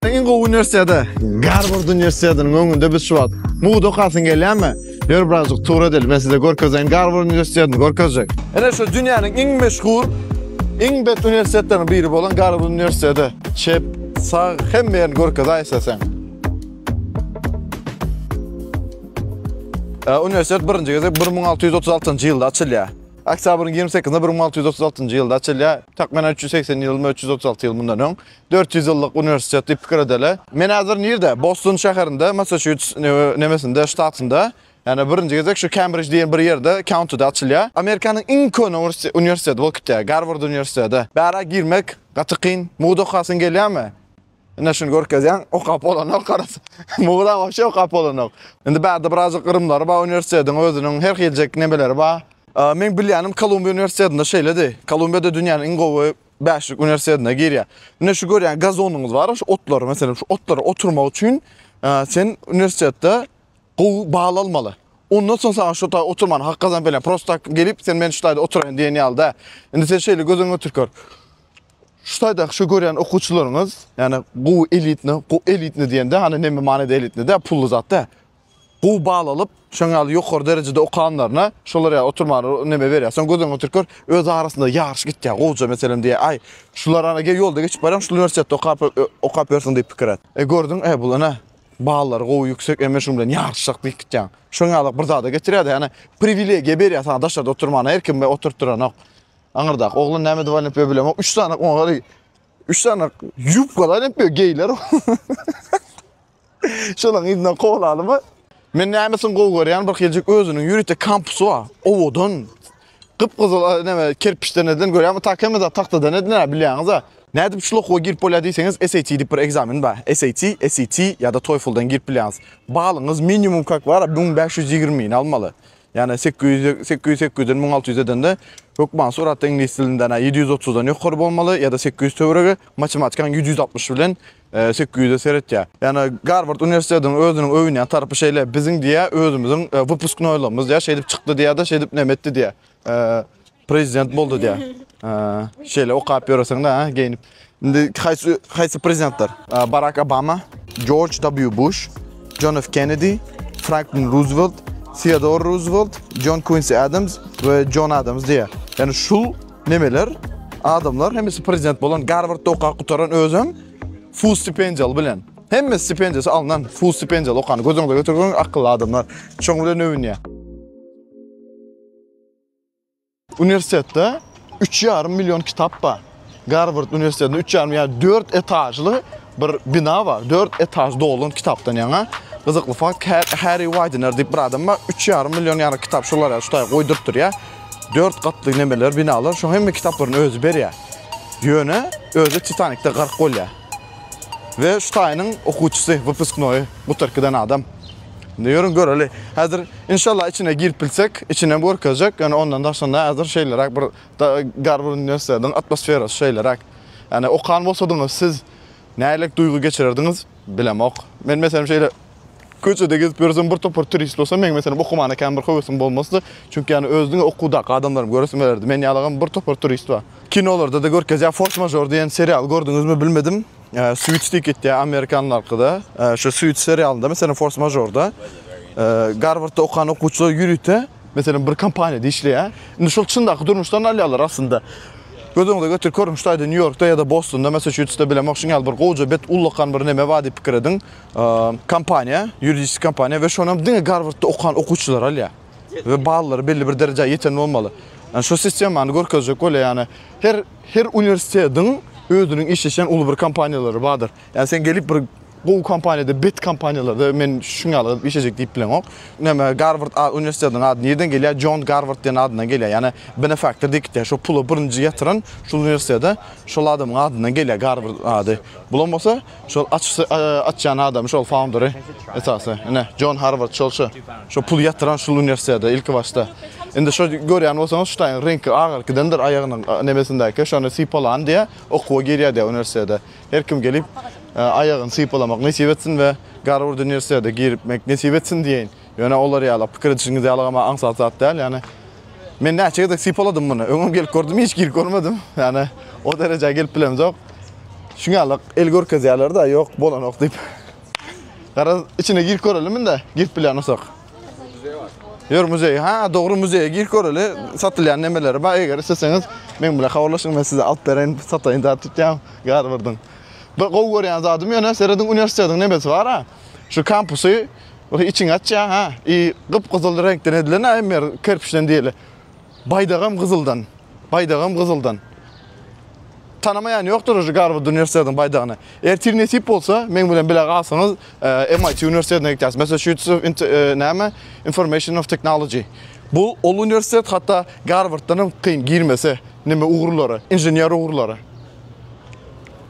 Iň gowy uniwersitete, Garward uniwersitetiniň öňünde biz şu wagt. Mugt okasyň gelýärmi? Ýör birazjyk tur edeli, men size görkezeýin Garward uniwersitetini görkezjek. Ine şu dünýäniň iň meşhur, iň bet uniwersitetleriniň biri bolan Garward uniwersiteti. Çep, sag, hemme ýerini görkezaý isleseň. Uniwersitet birinji gezek bir müň alty ýüz otuz altynjy ýylda açylýar. Oktýabryň ýigrimi sekizinde bir müň alty ýüz otuz altynjy ýylda açylýar. Takmynan üç ýüz segsen ýyl, üç ýüz otuz alty ýyl mundan öň. Dört ýüz ýyllyk uniwersitet diýip pikir edeli. Men häzir nirde? Boston şäherinde, Massaçuits nemesinde, ştatynda. Ýani birinji gezek şu Kembrij diýen bir ýerde, kauntyda açylýar. Amerikanyň iň köne uniwersiteti bolup gitýär, Garward uniwersiteti. Bärä girmek gaty kyn. Mugt okasyň gelýärmi? Ine şuny görkezýän, okap bolanok garaz. Mugda wapşe okap bolanok. Indi bärde birazjyk gyrymlary bar uniwersitetiň özüniň, her hiljek nemeleri bar. Meň bilýänim Kolumbiýa uniwersitetinde şeýledi. Kolumbiýada dünýäniň iň gowy Bäşlik uniwersitetine girýär. Ine şu görýän gazonyňyz bar, şu otlary, meselem, şu otlary oturmak üçin sen uniwersitetde gowy bal almaly. Ondan soň sana şu taý oturman hak gazanyp bilen. Prosta tak gelip sen men şu taýda oturaýyn diýen ýaly da. Indi sen şeýle göz öňüne getirip gör. Şu taýda şu görýän okuwçylaryňyz, ýani gowy elitni, gowy elitni diýende, hani näme manyda elitni de, pully zat da. Gowy bal alyp, şoň ýaly ýokary derejede okanlaryna şolar ýaly oturmaga neme berýär. Soň göz öňüňe getirip gör, öz arasynda ýaryş gitýär, gowja meselem diýýär, aý, şular ana gel ýolda geçip barýaň, şul uniwersitetde okap, okap ýörsüň diýip pikir et. E, gördüň, e, bul ene, ballary gowy, ýüksek, e, men şunuň bilen ýaryşjak diýip gitýäň. Şoň ýaly bir zada getirýär-de, ýagny priwilegiýa berýär saňa daşarda oturmana, her kim we oturtdyranok. Aňyrdaky oglan näme dowam edip ýör bilemok, üç sany oňa, üç sany ýubkalar edip ýör, geýler. Şonuň yzyna kowlalymy? Men nämesini gowy görýän, bir hiljik özüniň ýörite kampusy bar. Owadan. Gyp-gyzyl näme kerpiçden edilen görýäňmi? Tak hemme zat tagtadan edilen, bilýäňiz-a. Nädip şul okuwa girip bolýar diýseňiz, SAT diýip bir ekzamen bar. SAT, SET ýa-da TOEFL-dan girip bilýäňiz. Balyňyz minimum kak bar-a, müň bäş ýüz ýigrimi ni almaly. Ýagny sekiz ýüz, sekiz ýüz, sekiz ýüzden müň alty ýüz edende hökman suratda iňlis dilinden-ä ýedi ýüz otuzdan ýokary bolmaly ýa-da sekiz ýüz töweregi, matematikaň ýedi ýüz altmyş bilen Sekiz ýüze seretýär. Ýani Garward uniwersitetiniň özüniň öwünýän tarapy şeýle, biziň diýýä özümiziň wypusknoýlygymyz diýýä şeýdip çykdy diýýä-de şeýdip näme etdi diýýä. Prezident boldy diýýä. Şeýle okap ýöreseň-de ha geýnip. Indi haýsy haýsy prezidentler? Barak Obama, Jorj W. Buş, Jon F. Kennedi, Franklin Ruzwelt, Theodor Ruzwelt, Jon Kuinsi Adams we Jon Adams diýýä. Ýani şul Nemeler? Adamlar hemmesi prezident bolan, Garvardda okap gutaran özem full stipendiýaly bilen. Hemme stipendiýasy alnan, full stipendiýaly okan, gözüňde götürgün akylly adamlar. Şoň bilen öwünýär. Uniwersitetde 3,5 million kitap bar. Garvard uniwersitetinde 3,5 ýa 4 etažly Bir bina bar, dört etaž dolan kitapdan ýaňa. Gyzykly fakt, Harry Widener diýip bir adam bar, üç ýarym million ýarym kitap şolar ýaly şutaýy goýduryp durýar. Dört gatly nemeler, binalar, şoň hemme kitaplaryny özi berýär. Ýöne özi Titanikde gark bolýar. We şutaýynyň okuwçysy, wypusknoýy, gutark giden adam. Indi ýörüň göreli. Häzir inşallah içine girip bilsek, içinem görkezjek. Ýöne ondan daşynda häzir şeýleräk bir Garward uniwersitetiň atmosferasy şeýleräk. Ýagny okan bolsadyňyz, siz nähiliräk duýgy geçirerdiňiz, bilemok. Men meselem şeýle köçede gezip ýörsem bir topar turist bolsa, meň meselem okumana kän bir höwesim bolmazdy. Çünki ýagny öz diňe okuwdaky adamlarymy göresim gelerdi. Men ýalygam bir topar turist bar. Kinolarda-da görkezýär. Fors mažor diýen serialy gördüňizmi bilmedim. Suits diýip gitýär amerikanlarkyda. Şu Suits serialynda meselem fors mažorda Garwardda okan okuwçylar ýörite Meselem bir kompaniýada işleýär. Indi şol çyndaky durmuşdan alýarlar aslynda. Göz öňüňize getirip görüň, şu taýda Nýu-Ýorkda ýa-da Bostonda, Massaçusetste bilemok, şuňňaly bir gowja bet ullakan bir neme bar diýip pikir ediň. Kompaniýa, ýuridiski kompaniýa we şonam diňe Garwardda okan okuwçylary alýar. We ballary belli bir derejä ýeten bolmaly. Ýani şu sistemany görkezjek bolýar, ýani her her uniwersitetiň özüniň işleşýän uly bir kompaniýalary bardyr. Yani sen gelip bir gowy kompaniyada, bet kompaniyalarda men şun ýaly gyzyp işlejek diýip bileňok. Näme Garvard uniwersitetiniň ady nirden gelýär? John Garvard diýen adyndan gelýär. Yani benefaktor diýip gitýär. Şo puly birinji ýatyran şul uniwersitete şol adamyň adyndan gelýär Garvard ady. Bulam bolsa şol açýan adamy şol founderi esasy. Ine John Harvard şol şu. Şo puly ýatyran şul uniwersitete ilki başda. Indi şo görýän bolsaňyz şu taýyň reňki agyr gidendir aýagynyň nemesindäki şony sypalan diýä okuwa girýär diýä uniwersitete. Her kim gelip aýagyny sypalamak nesip etsin we Garward uniwersitete girmek nesip etsin diýeýin. Ýöne olar ýaly pikir edişiňiz ýaly ama aňsat zat däl. Ýani men näçe gezek sypaladym muny. Öňem gelip gördüm, hiç girip görmedim. Ýani o derejä gelip bilemzok. Şuň ýaly el görkezýärler-de, ýok, bolanok diýip. Garaz, içine girip görelim indi, girip bilýän bolsak. Ýör muzeý. Ha, dogry muzeýe girip göreli. Satylýan nemeleri bar. Eger isleseňiz, men bilen habarlaşyň, men size alyp bereýin, sataýyn zat tutýan. Gar birdiň. Bir gowy görýän zadym ýöne serediň uniwersitetiň nemesi bar ha. Şu kampusy bir içiňi açýar ha. I gyp-gyzyl reňkden edilen ha, emmer kerpiçden diýeli. Baýdagam gyzyldan, baýdagam gyzyldan. Tanamaýan ýokdur uje Garward uniwersitetiň baýdagyny. Ertir nesip bolsa, meň bilen bile galsaňyz, MIT uniwersitetine gidýäris. Massachusetts of näme? Information of Technology. Bu ol uniwersitet hatda Garwarddan hem kyn girmesi, neme ugurlary, inžener ugurlary.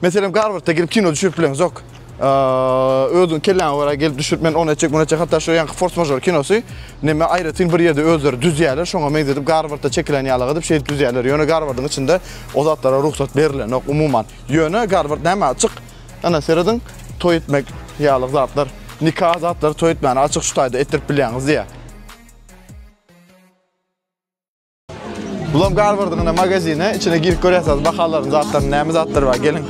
Meselem Garwardda gelip kino düşürip bileňizok. Özüň kelläňe görä gelip düşürip men ony etjek, muny etjek. Hatda şu ýanky Force Majeure kinosy näme aýratyn bir ýerde özleri düzýärler, şoňa meňzedip Garwardda çekilen ýalyk edip şeýdip düzýärler. Ýöne Garwardyň içinde o zatlara rugsat berilenok umuman. Ýöne Garward näme açyk? Ana serediň, toý etmek ýalyk zatlar, nika zatlary toý etmäni açyk şu taýda etdirip bilýäňiz diýýär. Bulam Garwardyň ine magazini. Içine girip görýärsiňiz bahalaryny, zatlaryny, näme zatlary bar. Geliň.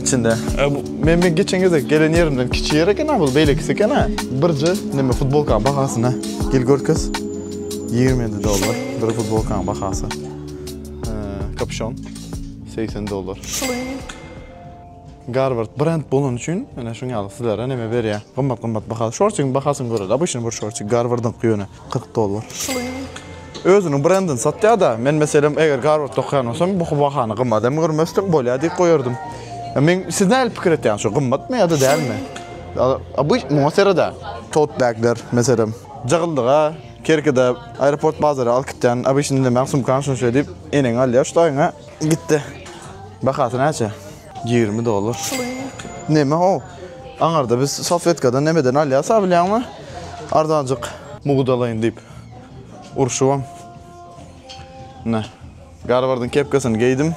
Içinde. E, bu, men men geçen gezde gelen ýerimden kiçi ýer eken bu, beýlekisi eken ha. Birje näme futbolka bahasyna gel görkez. 27 dollar bir futbolkaň bahasy. E, kapşon 80 dollar. Şuly. Garward brend bolany üçin ene şuň ýaly sizlere neme berýär. Gymmat gymmat bahaly. Şortiň bahasyny göreli. Obyçny bir şorti Garwardyňky ýöne 40 dollar. Özüniň brendini satýada. Men meselem eger Garwardda okaýan bolsam bu bahany gymmat hem görmesdim. Bolýa diýip goýardym. Men siz nähili pikir etýäňiz şu gymmatmy ýa-da dälmi? Obyç muňa sereda. Tote bagler meselem. Jagyldyga kerkede aeroport bazara alyp gitýän obyçny diýmän sumkany şunça diýip eneň alýar şu daýyňa. Gitdi. Bahasy näçe? 20 dollar. Neme o? Aňarda biz salfetkadan nemeden alýas a bilýäňmi? Arzanjyk. Mugdalaýyn diýip urşubam. Ne. Garwardyň kepkesini geýdim.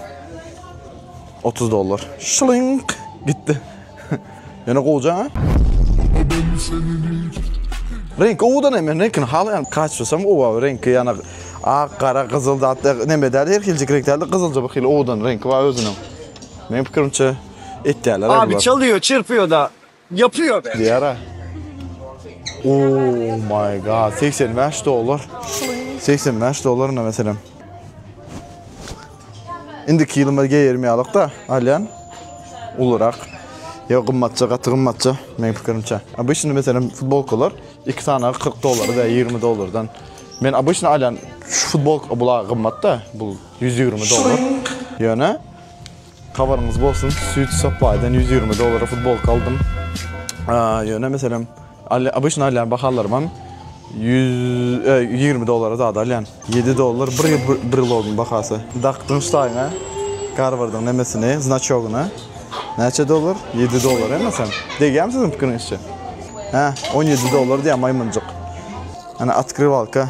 30 dollar. Şlyňk gitdi. Ýöne gowja ha. Renk owudan hem men renkini halaýan. Kaçsam owa renki ýana ak, gara, gyzyl zatda neme däl her hiljik renk däl gyzylja bir hili owudan renki bar özüniň. Men pikirimçe etýärler. Abi çalýo, çyrpýo da ýapýo be. Diýara. Oh my god 85 dollar. 85 dollar meselem. Indiki ýyl men geýermeýärlik-de, alýan. Ulurak. Ýa gymmatja, gaty gymmatja, meniň pikirimçe. Obyçny meselem futbolkalar iki sanaga 40 dollar, ýa 20 dollardan. Men obyçny alýan, şu futbolka bula gymmat-da, bu 120 dollar. Ýöne. Habaryňyz bolsun Suit Supply'dan ýüz ýigrimi dollara futbolka aldym. Ýöne meselem alýan obyçny alýan bahalarymam ýüz ýigrimi dollara zada alýan. Ýedi dollar bir ýyl brilogyň bahasy. Dakdyň ştaýyňa Garwardyň nemesini znaçogyny näçe dollar? Ýedi dollar emasam. Degýärmi siziň pikiriňizçe? Hä on ýedi dollar diýýär maýmynjyk. Ana otkrywalka.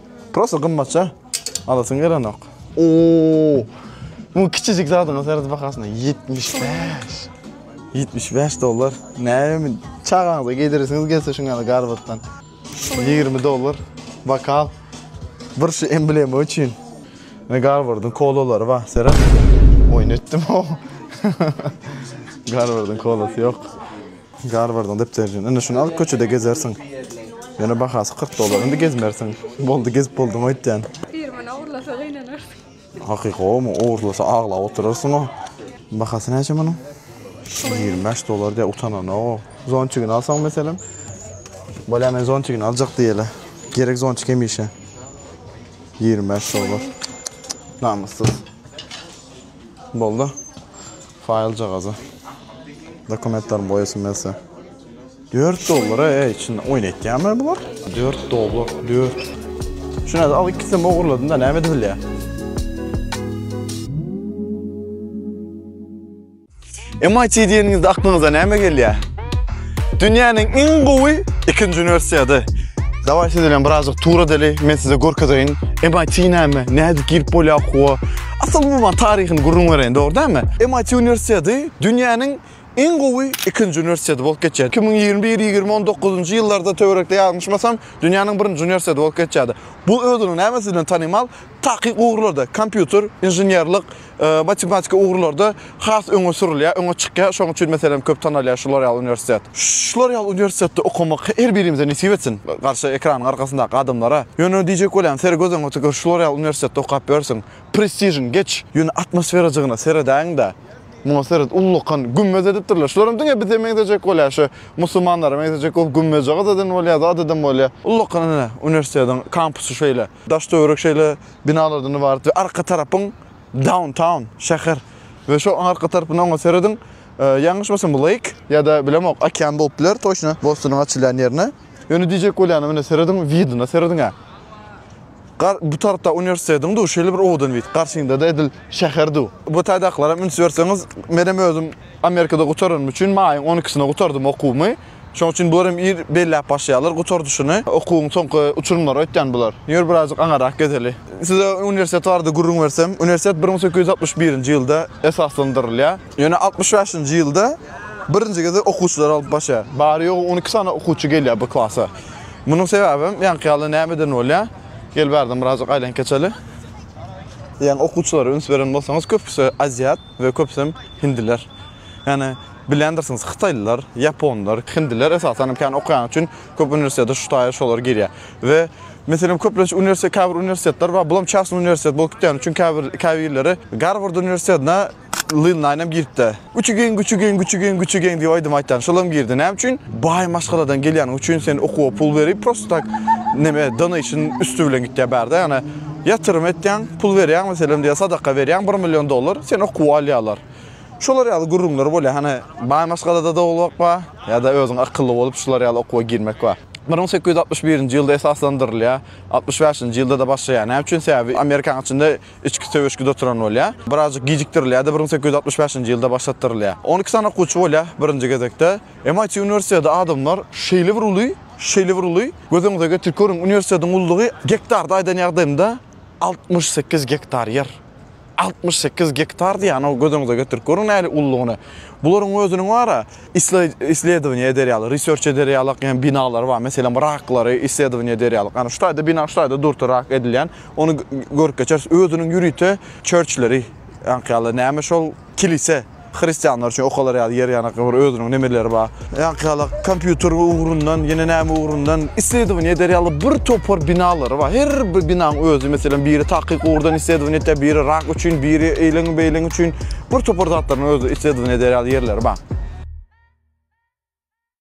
Prosta gymmatja alasyň gelenok. Oo. Bu kiçijik zadyň seredi bahasyna 75. 75 dollar. Näme çagaňyza geýdiresiňiz gelse şuň ýaly garbatdan. 20 dollar bokal. Bir şu emblema üçin. Ne garbardyň kolalary bar, seret. Oýun etdim. Garbardyň kolasy ýok. Garwardyň depderjigini. Indi şuny alyp köçede gezersiň. Ýöne bahasy kyrk dollar. Indi gezmersiň. Boldy, gezip bolduň öýtýän. Pir muny ogurlasa gynanarsyň. Hakyky gowymy? Ogurlasa aglap oturarsyň-a. Bahasy näçe munuň? Ýigrimi bäş dollar diýýä, utananok-ow. Zonçigini alsaň meselem? Bolýa, men zonçigini aljak diýeli. Gerek zonçik hemişe. Ýigrimi bäş dollar. Namyssyz. Boldy. Faýljagaza dokumentlerimi goýasym gelse. Dört dollara e içinde oýun etýärmi bular? Dört dollar, dört. Şuna al ikisini ogurladym da näme edip bilýär? MIT diýeniňizde aklyňyza näme gelýär? Dünýäniň iň gowy ikinji uniwersiady. Daway siz bilen birazjyk tur edeli, men size görkezeýin MIT näme, nädip girip bolýar okuwa. Asyl umuman taryhyny gürrüň bereýin, dogry dälmi? MIT uniwersiteti dünýäniň iň gowy ikinji uniwersiteti bolup geçýär. Iki müň ýigrimi bir, ýigrimi müň on dokuzynjy ýyllarda töwerekde ýalňyşmasam, dünýäniň birinji uniwersiteti bolup geçýärdi. Bu özüniň nämesi bilen tanymal? Takyk ugurlarda, kompýuter, inženerlik, e, matematika ugurlarda has öňe sürülýär, öňe çykýar. Şonuň üçin meselem köp tanalýar şu L'Oreal uniwersitet. Şu L'Oreal uniwersitetde okamak her birimize nesip etsin, garşy ekranyň arkasyndaky adamlara. Ýöne diýjek bolýan, ser göz öňe tükür şu L'Oreal uniwersitetde okap ýörsüň, prestižiň geç, ýöne atmosferajygyna seredäýiň-de, muňa seret, ullakan, gümmez edipdirler. Şularam diňe bize meňzejek bolýar, şu musulmanlara meňzejek bolup gümmezje gyz eden bolýar-da, at eden bolýar. Ullakan ine uniwersitetiň kampusy şeýle, daş-töwerek şeýle binalardan ybarat we arka tarapyň, Downtown, şäher. We şo oň arka tarpyny oňa serediň. Ýalňyşmasam bu Lake ýa-da bilemok, okean bolup biler, toçna Bostonyň açylýan ýerine. Ýöne diýjek bolýanym, ine serediň, widine serediň-ä. Gar bu tarapda uniwersitetiň du, şeýle bir owadan wid. Garşyňda-da edil şäher du. Bu taýdakylara üns berseňiz, menem özüm Amerikada gutaranym üçin maýyň on ikisine gutardym okuwymy. Şoň üçin bular hem ir belläp başlaýarlar gutardyşyny. Okuwyň soňky uçurymlary öýtýän bular. Ýör birazajyk aňyrrak gezeli. Size uniwersitet barada gürrüň bersem, uniwersitet bir müň sekiz ýüz altmyş birinji ýylda esaslandyrylýar. Ýöne altmyş bäşinji ýylda birinji gezek okuwçylary alyp başlaýar. Bary-ýogy on iki sany okuwçy gelýär bu klasa. Munuň sebäbem ýaňky ýaly nämeden bolýar? Gel bärden birazajyk aýlanyp geçeli. Ýaňy okuwçylara üns beren bolsaňyz köpüsi aziýat we köpüsem hindiler. Ýagny. Bilýändirsiňiz, hytaýlylar, ýaponlar, hindiler esasan hem kän okaýany üçin köp uniwersitete şu taýy şolar girýär. We, meselem, köplenç uniwersitet, käbir uniwersitetler bar, bulam çasnyý uniwersitet bolup gitýäni üçin käbir, käbirleri Garward uniwersitetine Lil Naýn hem giripdi. Güçi geň, güçi geň, güçi geň, güçi geň diýip aýdym aýtýan, şol hem girdi. Näme üçin? Baý maşgaladan gelýäniň üçin sen okuwa pul berip, prosta tak, neme, donation üsti bilen gitýär bärde, ýagny ýatyrym etýäň, pul berýäň, meselem diýä sadaka berýäň, bir million dollar, seni okuwa alýarlar. Şolar ýaly gürrüňler bolýar. Hany, baý maşgalada dogulmak bar, ýa-da özüň akylly bolup şular ýaly okuwa girmek bar. Bir müň sekiz ýüz altmyş birinji ýylda esaslandyrylýar. Altmyş bäşinji ýylda-da başlaýar. Näme üçin? Sebäbi Amerikanyň içinde içki söweşgi-de oturan bolýar. Birazajyk gijikdirilýär-de, bir müň sekiz ýüz altmyş bäşinji ýylda başlatdyrylýar. On iki sany okuwçy bolýar birinji gezekde. MIT uniwersiteti adamlar şeýle bir uly, şeýle bir uly, göz öňüňize getirip görüň, uniwersitetiň ululygy gektarda aýdan ýagdaýymda altmyş sekiz gektar ýer. Altmyş sekiz gektar diýýänow göz öňüňize getirip görüň nähili ululygyny. Bularyň özüniň bar-a, isledowaniýa eder ýaly, research eder ýalyk ýa binalary bar. Meselem, raklary isledowaniýa eder ýalyk. Ýagny şu taýda bina, şu taýda durty rak edilýän. Ony görüp geçeris. Özüniň ýörite çörçleri, ýaňky ýaly, näme şol, kilise. Hristianlar üçin okalar ýaly ýer ýanakly bir özüniň nemeleri bar. Ýaňky ýaly kompýuter ugrundan, ýene näme ugrundan isledowaniýe eder ýaly bir topar binalary bar. Her bir binaň özi, meselem, biri takyk ugurdan isledowaniýe etýär, biri rak üçin, biri eýleň-beýleň üçin bir topar zatlaryň özi isledowaniýe eder ýaly ýerleri bar.